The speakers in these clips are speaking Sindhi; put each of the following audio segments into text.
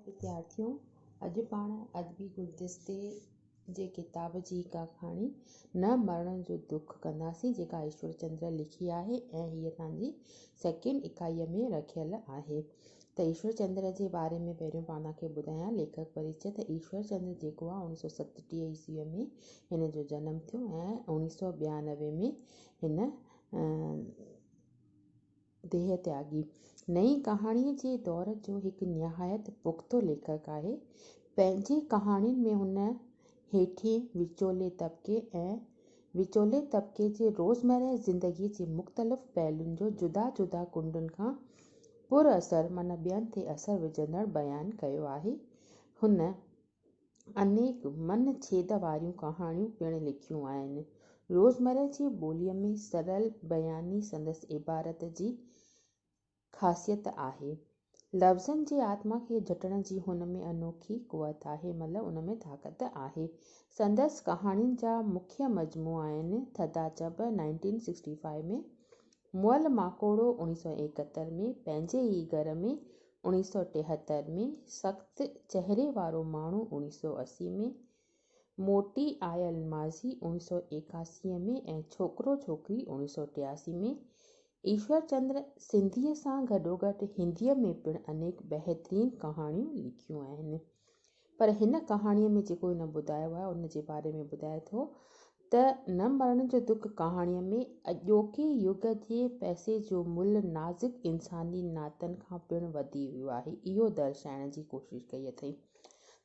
وديارٿيو! اڄ پاڻ ادبي گلدستي جي ڪتاب جي اها ڪهاڻي نه مرڻ جو دک ڪنداسين جيڪا ايشور چندر لکي آهي ۽ هيء توهان جي سيڪنڊ اڪائيء ۾ رکيل آهي ته ايشور چندر جي باري ۾ پهريون پاڻ توهان کي ٻڌايان ليکڪ پريچئه ته ايشور چندر جيڪو آهي اڻويهه سؤ ستٽيهه عيسويء ۾ هن جو جنم ٿيو ۽ اڻويهه سؤ ٻيانوي ۾ هن ديهه تياڳي نئين ڪهاڻيء جي دور جو هڪ نهايت پختو ليکڪ آهي. پنهنجي ڪهاڻين ۾ هن هيٺين، وچولي طبقي ۽ وچولي طبقي جي روزمره زندگيء جي مختلف پهلون جو جدا جدا ڪنڊن کان پر اثر معنيٰ ٻين تي اثر وجهندڙ بيان ڪيو آهي. هن. انيڪ من ڇيد واريون ڪهاڻيون پڻ لکيون آهن. روزمره جي ٻوليء ۾ سرل بياني سندس عبارت جي خاصيت آهي. لفظن جي آتما کي جهٽڻ جي هن ۾ انوکي قوت آهي، مطلب ان ۾ طاقت آهي. سندس ڪهاڻين جا مکيه مجموعا آهن، ٿڌا چڀ، نائنٽين سڪسٽي فائيو، ۾، مئل ماڪوڙو، اڻيهه سؤ ايڪهتر، ۾، پنهنجي ئي گهر ۾، اوڻيھ سؤ ٽيهتر ۾ سخت چهري وارو ماڻهو اوڻيھ سؤ اسي ۾ موٽي آيل ماضي اوڻيھ سؤ ايڪاسي ۾ ۽ ڇوڪرو ڇوڪري اوڻيھ سؤ ٽياسي ۾ ايشور چندر سنڌيء سان گڏوگڏ هنديء ۾ پڻ انيڪ بهترين ڪهاڻيون لکيون آهن پر هن ڪهاڻيء ۾ جيڪو هن ٻڌايو آهي، ان جي باري ۾ ٻڌائي ٿو ته، نه مرڻ جو دک ڪهاڻيء ۾ اڄوڪي يگ جي پئسي جو ملهه نازڪ انساني ناتن کان پڻ وڌي ويو آهي. اهو درشائڻ جي ڪوشش ڪئي اٿئي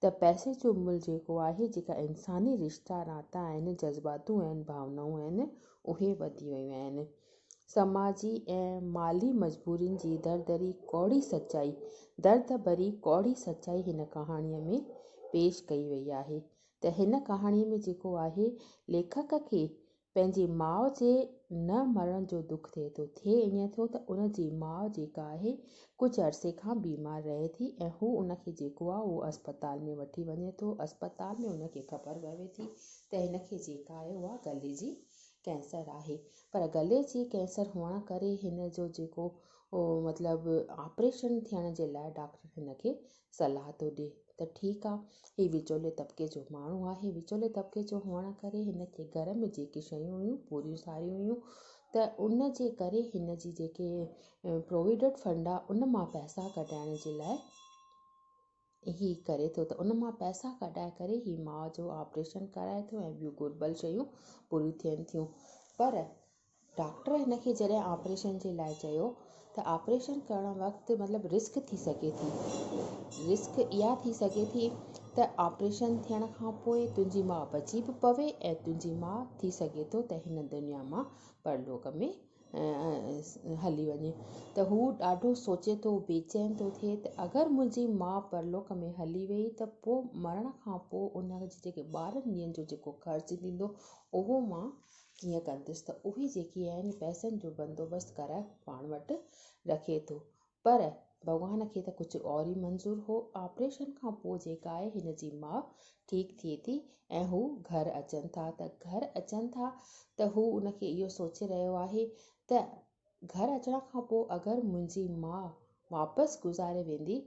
ته پئسي جو ملهه جيڪو آهي، جيڪا انساني رشتا ناتا آهن، جذباتون آهن، ڀاونائون آهن، اهي وڌي ويون آهن. سماجي ۽ مالي مجبورين جي دردري ڪوڙي سچائي درد ڀري ڪوڙي سچائي هن ڪهاڻي ۾ پيش ڪئي وئي آهي ته هن ڪهاڻي ۾ جيڪو آهي ليکڪ کي پنهنجي ماء جي نه مرڻ جو دک ٿئي ٿو ٿئي ائين ٿو ته ان جي ماء جيڪا آهي ڪجهه عرصي کان بيمار رهي ٿي ۽ هو ان کي جيڪو آهي اهو اسپتال ۾ وٺي وڃي ٿو اسپتال ۾ ان کي خبر پوي ٿي ته هن کي جيڪا آهي اها گلي جي ڪينسر آهي پر ڳلي جي ڪينسر هئڻ ڪري هن جو جيڪو مطلب آپريشن ٿيڻ جي لاء ڊاڪٽر هن کي صلاح ٿو ڏي ته ٺيڪ آ هي وچولي طبقي جو ماڻهو آهي وچولي طبقي جو هئڻ ڪري هن کي گهر ۾ جيڪي شيون هيون پوريون ساريون هيون ته ان جي ڪري هن جي جيڪي پروويڊنٽ فنڊ آ ان مان پئسا ڪڍائڻ جي لاء هي ڪري ٿو ته ان مان پئسا ڪڍائي ڪري هي ماء جو آپريشن ڪرائي ٿو ۽ ٻيون گهربل شيون پوريون ٿين ٿيون پر ڊاڪٽر هن کي جڏهن آپريشن جي لاء چيو ته آپريشن ڪرڻ وقت مطلب رسڪ ٿي سگهي ٿي رسڪ اها ٿي سگهي ٿي ته آپريشن ٿيڻ کان پوء تنهنجي ماء بچي به پوي ۽ تنهنجي ماء ٿي سگهي ٿو ته هن دنيا مان پرلوڪ ۾ هلي وڃي ته هو ڏاڍو سوچي ٿو، بيچين ٿو ٿئي ته اگر منهنجي ماء پرلوڪ ۾ هلي ويئي ته پوء مرڻ کان پوء ان جي جيڪي ٻارهن ڏينهن جو جيڪو خرچ ٿيندو اهو مان ڪيئن ڪندس ته اهي جيڪي آهن پئسن جو بندوبست ڪرائي پاڻ وٽ رکي ٿو پر ڀڳوان کي ته ڪجهه اور ئي منظور هو. آپريشن کان پوء جيڪا آهي هن جي ماء ٺيڪ ٿئي ٿي ۽ هو گهر اچن ٿا ته گهر اچن ٿا ته هو ان کي اهو سوچي رهيو آهي ته گهر اچڻ کان پوء اگر منهنجي ماء واپس گذاري ويندي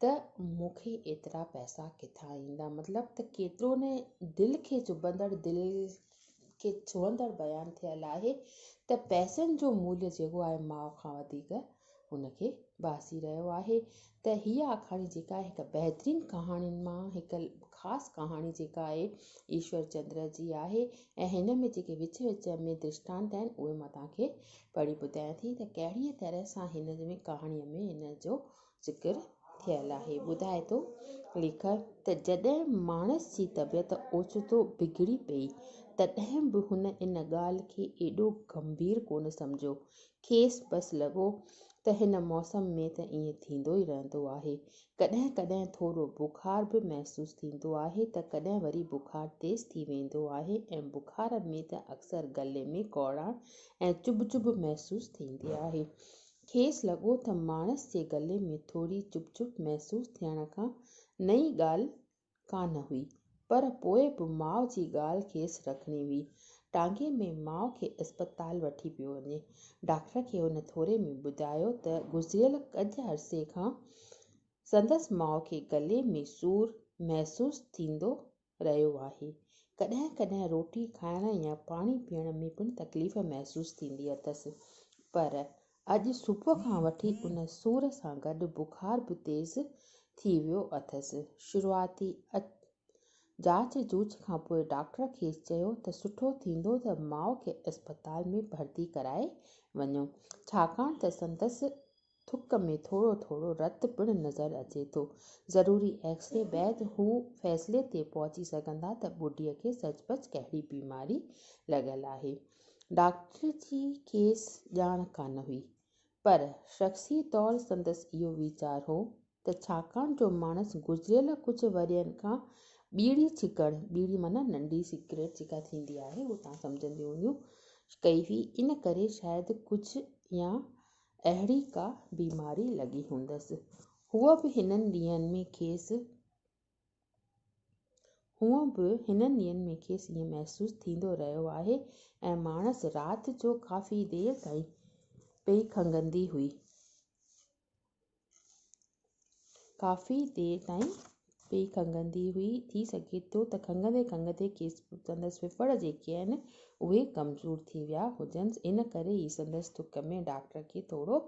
ته مون کي ايترا پئسا ڪٿان ايندا مطلب ته ڪيترو نه دل کي چڀندڙ دل کي ڇهندڙ بيان ٿيل آهي ته پئسن جو مولهه جيڪو آهي ماء کان وڌيڪ ان کي ڀاسي رهيو آهي ته هيء آکاڻي جيڪا آهي هڪ بهترين ڪهاڻين مان هڪ خاص ڪهاڻي جيڪا آهي ايشور چندر جي آهي ۽ هن ۾ جيڪي وچ وچ ۾ درشٽانت آهن اهي مان توهان کي پڙهي ٻڌايان ٿي ته ڪهڙيء طرح سان هن ۾ ڪهاڻيء ۾ هن جو ذڪر ٿيل آهي. ٻڌائي ٿو ليکڪ ته جڏهن ماڻس جي طبيعت اوچتو بگڙي پئي تڏهن به هن ان ڳالهه کي ايڏو گنڀير ڪونه سمجهيو. کيس بس لڳو ته هن موسم ۾ ته ائين ٿيندو ئي رهندو آهي. ڪڏهن ڪڏهن ٿورو بخار به محسوس ٿيندو آهي ته ڪڏهن وري بخار تيز ٿي ويندو آهي ۽ بخار ۾ ته اڪثر گلي ۾ ڪوڙاڻ ۽ چڀ چڀ محسوس ٿيندي آهي. کيس لڳو تھ ماڻس جي گلي ۾ ٿوري چڀ چڀ محسوس ٿيڻ کان نئين ڳالھھ ڪانھ ھئي، پر پوء بھ ماء جي ڳالھھ کيس رکڻي ھئي. ٽانگي ۾ ماء کي اسپتال وٺي پيو وڃي. ڊاڪٽر کي ھن ٿوري ۾ ٻڌايو تھ گذريل ڪجھھ عرصي کان سندس ماء کي گلي ۾ سور محسوس ٿيندو رهيو آهي. ڪڏهن ڪڏهن روٽي کائڻ يا پاڻي پيئڻ ۾ پڻ تڪليف محسوس ٿيندي اٿس. پر اڄ صبح کان وٺي ان سور سان گڏ بخار به تيز ٿي ويو اٿس. شروعاتي جاچ جوچ کان پوء ڊاڪٽر کيس چيو ته سٺو ٿيندو ته ماء کي اسپتال ۾ ڀرتي ڪرائي وڃو، ڇاڪاڻ ته سندس ٿڪ ۾ ٿورو ٿورو رت پڻ نظر اچي ٿو. ضروري ايڪس ري بعد هو فيصلي تي پهچي سگهندا ته ٻڍي کي سچ پچ ڪهڙي بيماري لڳل آهي. ڊاڪٽر جي کيس ڄاڻ ڪانه هئي. پر شخصي طور سندس اهو ويچار هو ته ڇاڪاڻ جو ماڻس گذريل ڪجهه ورهين کان ٻيڙي ڇڪڻ، ٻيڙي معنيٰ ننڍي سگريٽ جيڪا ٿيندي آهي اهو توهان سمجهنديون هونديون، ڪئي هئي، ان ڪري شايد ڪجهه يا اهڙي ڪا بيماري لڳي هوندس. هونء به هنن ڏينهن ۾ کيس هونء به هنن ڏينهن ۾ کيس ائين محسوس ٿيندو رهيو آهي ۽ ماڻس رات جو ڪافي دير تائين پئي کنگهندي هئي. ڪافي دير تائين پئي کنگهندي هئي. ٿي سگهي ٿو ته کنگهندي کنگهندي کيس سندس ڦڦڙ جيڪي آهن اهي ڪمزور ٿي ويا هجنس ان ڪري ئي سندس ٿڪ ۾ ڊاڪٽر کي ٿورو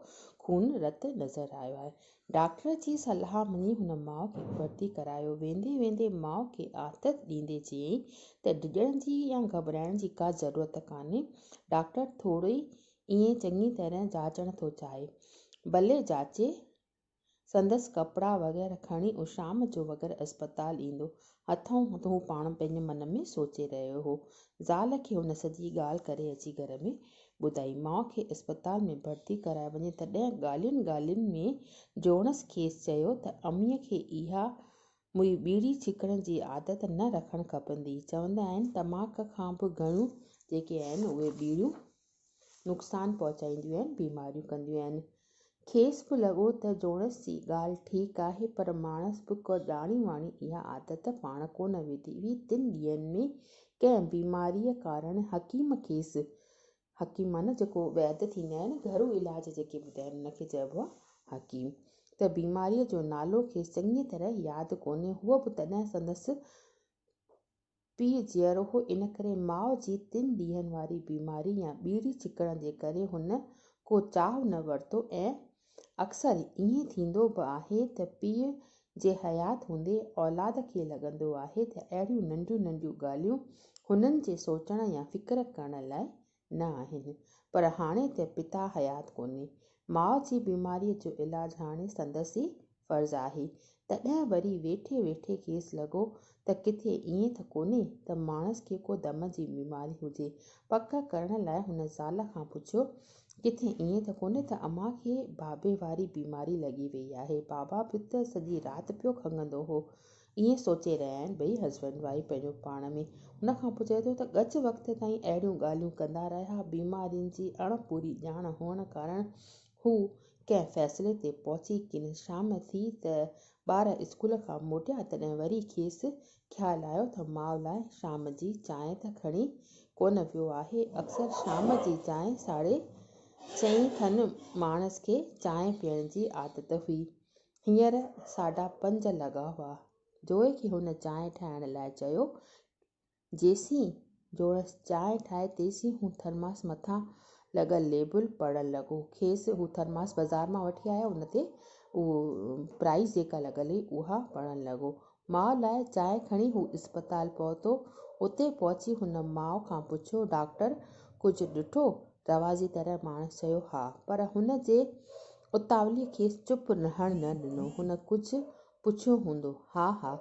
خون رت نظر آيو آهي. ڊاڪٽر جي صلاح مڃي هن ماء کي ڀرتي ڪرايو. ويندي ويندي ماء کي آٿت ڏيندي چيائين ته ڊڄڻ جي يا گهٻرائڻ جي ڪا ضرورت ڪانهي. ڊاڪٽر ٿوري ائين چڱي طرح جاچڻ ٿو چاهي. ڀلي جاچي. سندس ڪپڙا وغيره کڻي هو شام جو وغيره اسپتال ايندو. هٿئون هٿ هو پاڻ پنهنجي من ۾ سوچي رهيو هو. زال کي هن سڄي ڳالهه ڪري اچي گهر ۾ ٻڌائي. ماء کي اسپتال ۾ ڀرتي ڪرائي وڃي تڏهن ڳالهين ڳالهين ۾ جوڻس کيس چيو ته اميء کي اها مئي ٻيڙي ڇڪڻ جي عادت نه رکڻ کپندي. چوندا آهن تماڪ کان به گهڻيون جيڪي آهن اهي ٻيڙيون نقصان پهچائينديون آهن، بيماريون ڪنديون آهن. کيس به لڳو ته جوڻس جي ڳالهه ٺيڪ آهي، پر ماڻس به ڪا ڄاڻي واڻي اها عادت پاڻ ڪو نه وڌي هئي. تن ڏينهن ۾ ڪنهن بيماريء ڪارڻ حڪيم کيس، حڪيم معنيٰ جيڪو ويد ٿيندا آهن، گهرو علاج جيڪي ٻڌائين ان کي چئبو آهي حڪيم، ته بيماريء جو نالو کيس چڱيء طرح ياد ڪونهي، هوء به تڏهن سندس. پيء جيئرو هو، ان ڪري ماء جي تن ڏينهن واري بيماري يا ٻيڙي ڇڪڻ جي ڪري هن ڪو چاهه نه ورتو ۽ اڪثر ائين ٿيندو به آهي ته پيء جي حيات هوندي اولاد کي لڳندو آهي ته اهڙيون ننڍيون ننڍيون ڳالهيون هنن جي سوچڻ يا فڪر ڪرڻ لاء نه آهن پر هاڻي ته پتا حيات ڪونهي ماء جي بيماري جو علاج هاڻي سندس ئي فرض آهي تڏهن وري ويٺي ويٺي کيس لڳو ته ڪٿي ائين ته ڪونهي ته ماڻس کي ڪو دم جي بيماري هجي پڪ ڪرڻ لاء هن زال کان پڇيو ڪٿي ائين ته ڪونهي ته امان کي بابي واري بيماري لڳي وئي آهي بابا به ته سڄي رات پيو کنگهندو هو ائين سوچي رهيا آهن ٻئي هسبنڊ وائيف پنهنجو پاڻ ۾. ان کان پوء چئي ٿو ته ڳچ وقت تائين اهڙيون ڳالهيون ڪندا رهيا. بيمارين جي اڻ پوري ڄاڻ هئڻ ڪارڻ هو ڪنهن فيصلي تي پهچي ڪين. شام ٿي ته ٻار اسڪول کان موٽيا تڏهن وري کيس خيال آيو ته ماء لاء شام جي چانهه ته کڻي ڪونه ويو آهي. اڪثر شام جي چانهه ساڍي چئين کن ماڻس کي چانهه پيئڻ جي عادت هئي. هينئر ساڍا پنج لڳا هئا. جوئي کي هن چانهه ٺاهڻ لاء چيو. جيسين جوڻس چانهه ٺاهي تيسين هو ٿرماس مٿان لڳل ليبل پڙهڻ لڳو. کيس هو ٿرماس بازار مان وٺي آيو ان تي اهو پرائيز جيڪا لڳل هئي اها پڙهڻ لڳو. ماء لاء چانهه کڻي هو اسپتال پهتو. اتي پهچي هن ماء کان پڇيو، ڊاڪٽر ڪجهه ڏٺو؟ رواجي طرح ماڻس چيو، ها. پر هن جي اتاوليء کيس چپ رهڻ نه ڏنو. هن ڪجهه پڇيو هوندو. ها ها.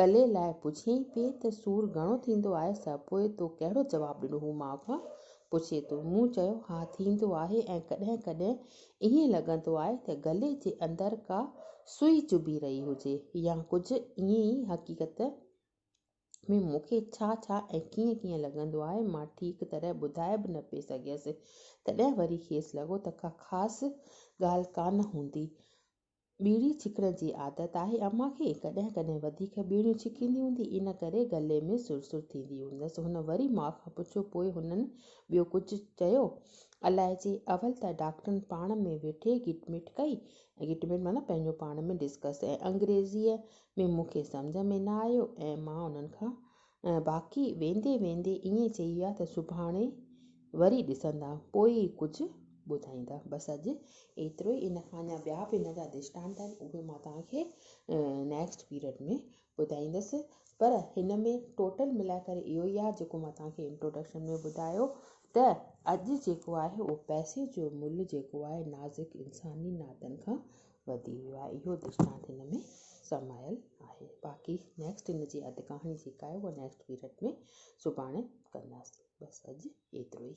گلي لاء پڇيائين پئي ته سور گهڻو ٿيندو آهي سا؟ پوء تو ڪهڙو جواب ڏنو؟ هو ماء کان پڇي ٿو. مون چيو، ها ٿيندو آهي ۽ ڪڏهن ڪڏهن ائين لڳندو آهي ته گلي جي اندر ڪا سوئي چڀي رهي هجي يا ڪجهه ائين ئي حقيقت ۾ مون کي ڇا ڇا ۽ ڪيئن ڪيئن لڳندو آهي مان ٺيڪ طرح ٻڌائي به نه پئي سگهيس تڏهن وري کيس لڳو ته ڪا خاص ڳالهه ڪانه هوندي ٻيڙي ڇڪڻ جي عادت آهي امان کي. ڪڏهن ڪڏهن وڌيڪ ٻيڙيون ڇڪيندي هوندي، ان ڪري ڳلي ۾ سر سر ٿيندي هوندس. هن وري ماء کان پڇيو، پوء هنن ٻيو ڪجهه چيو؟ الائجي. اول ته ڊاڪٽرن پاڻ ۾ ويٺي گٽ مٽ ڪئي، گٽ مٽ معنيٰ پنهنجو پاڻ ۾ ڊسڪس، ۽ انگريزيء ۾ مون کي سمجهه ۾ نه آيو ۽ مان انهن کان ۽ باقي ويندي ويندي ائين چئي ويا ته سڀاڻي وري ڏسندا پوء ئي ڪجهه ٻڌائيندا. بس اڄ ايترو ئي ان کان اڃا ٻيا به ان جا درشٽانت آهن اهي مان توهان کي نيڪسٽ پيرڊ ۾ ٻڌائيندس پر هن ۾ ٽوٽل ملائي ڪري اهو ئي آهي جيڪو مان توهان کي انٽروڊڪشن ۾ ٻڌايو ته اڄ جيڪو آهي اهو پئسي جو ملهه جيڪو آهي نازڪ انساني ناتن کان وڌي ويو آهي اهو درشٽانت هن ۾ سمايل آهي باقي نيڪسٽ هن جي اڌ ڪهاڻي جيڪا آهي اها نيڪسٽ پيرڊ ۾ سڀاڻي ڪنداسين بس اڄ ايترو ئي.